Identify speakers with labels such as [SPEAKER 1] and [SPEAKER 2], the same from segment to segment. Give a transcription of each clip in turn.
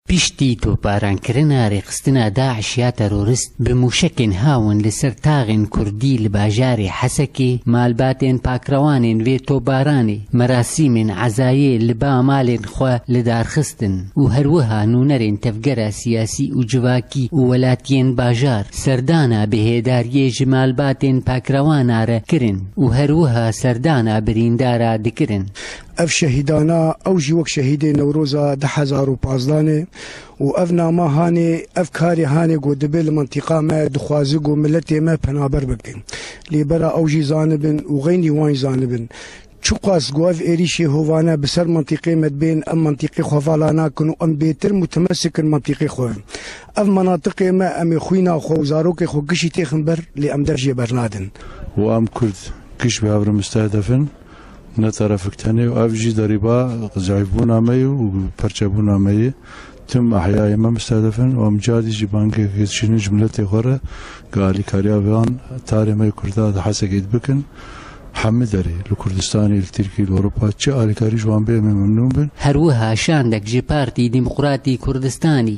[SPEAKER 1] Piştî toparankirin'a rêxistina DAIŞ ya terorist bi mûşekên hawin li ser taxên kurdî li bajarê Hesekê, malbatên pakrewanên vê tobaranê merasîmên ezayê li ba malên xwe li dar xistin û her wiha nûnerên tevgera siyasî û civakî û welatiyên bajar serdana bihêdariyê ji malbatên pakrewan'a re kirin û her wiha serdana birîndara dikirin. Ev şehîdana
[SPEAKER 2] ew jî wek şehîdê Newroza du hezar û pazdeh ne û ev nama hanê, ev karê hanê ku dibe li mintîqa me dixwaze ku miletê me penaber bike. Lê bera ew jî zanibin û xeynî wan jî zanibin çiqas ku ev êrîşê hovane bi ser mintîqê me dibên em mintîqê xwe vala nakin û em bêtir mutemesik in mintîqê xwe. Ev minatiqê me em ê xwîna xwe û zarokê xwe kişî têxin ber lê em dev jê bernadin. Û em kurd
[SPEAKER 3] kişî bi hevrimister dev in. Ne terefik tenê û ev jî derîba zayîfbûna me yê û perçebûna me yê. Tim ehyayê me mistedef in û em carî jî bangekê dişînin ji miletê xwe re ku alîkariya van tarê me kurda di Hesekê de bikin. Hemû derê, li Kurdistanê, li Tirkiyê, li Ewropa çi alîkarî ji wan bê em ê memnûn bin. Her wiha şandek
[SPEAKER 1] ji Partî Demokratî Kurdistanî,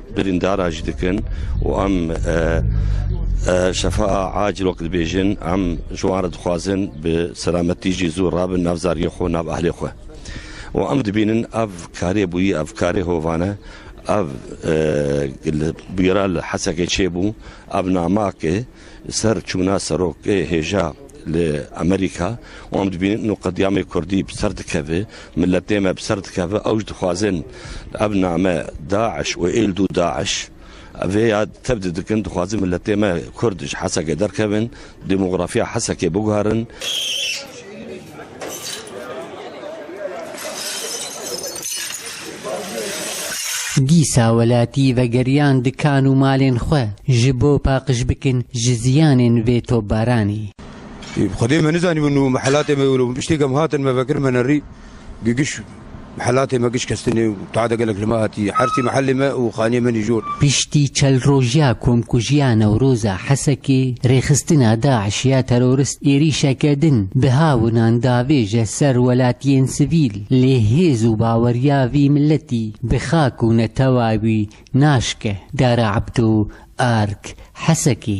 [SPEAKER 4] birîndara jî dikin û em şefaa acîl wek dibêjin em ji wan re dixwazin bi selametî jî zû rabin nav zariyê xwe nav ehlê xwe û em dibînin ev karê bûyî ev karê hovane ev bûyera li Hesekê çêbû ev namake ser çûna serokê hêja Li Amerîka wan dibînin nu qedîyamê kurdî bi ser dikeve, miletê me bi ser dikeve, ew ji dixwazin ev name Daeş û êldû Daeş vê ya tevdi dikin, dixwazin miletê me kurd ji Hesekê derkevin, demografîya Hesekê biguherin.
[SPEAKER 1] Dîsa welatî vegeriyan dikan û malên xwe ji bo paqij bikin ji ziyanên vê topbaranê. Xwedê
[SPEAKER 5] me nizanîbû nû mihelatê me wilo bû. Bi tiştê ke em hatin me vekir me nerî gigiş Mihelatê me giş kestin e û tade gelek li me hatiye. Hersî mihelê me û xaniyê me nijor. Piştî çel
[SPEAKER 1] roj ya komkujiya Newroza Hesekê, rêxistina DAIŞ ya terorist êrîşeke din bi hawinan davêje ser welatiyên sivîl, lê hêz û baweriya vî miletî bi xak û netewa wî naşke. Dara Ebdo, ark, Hesekê.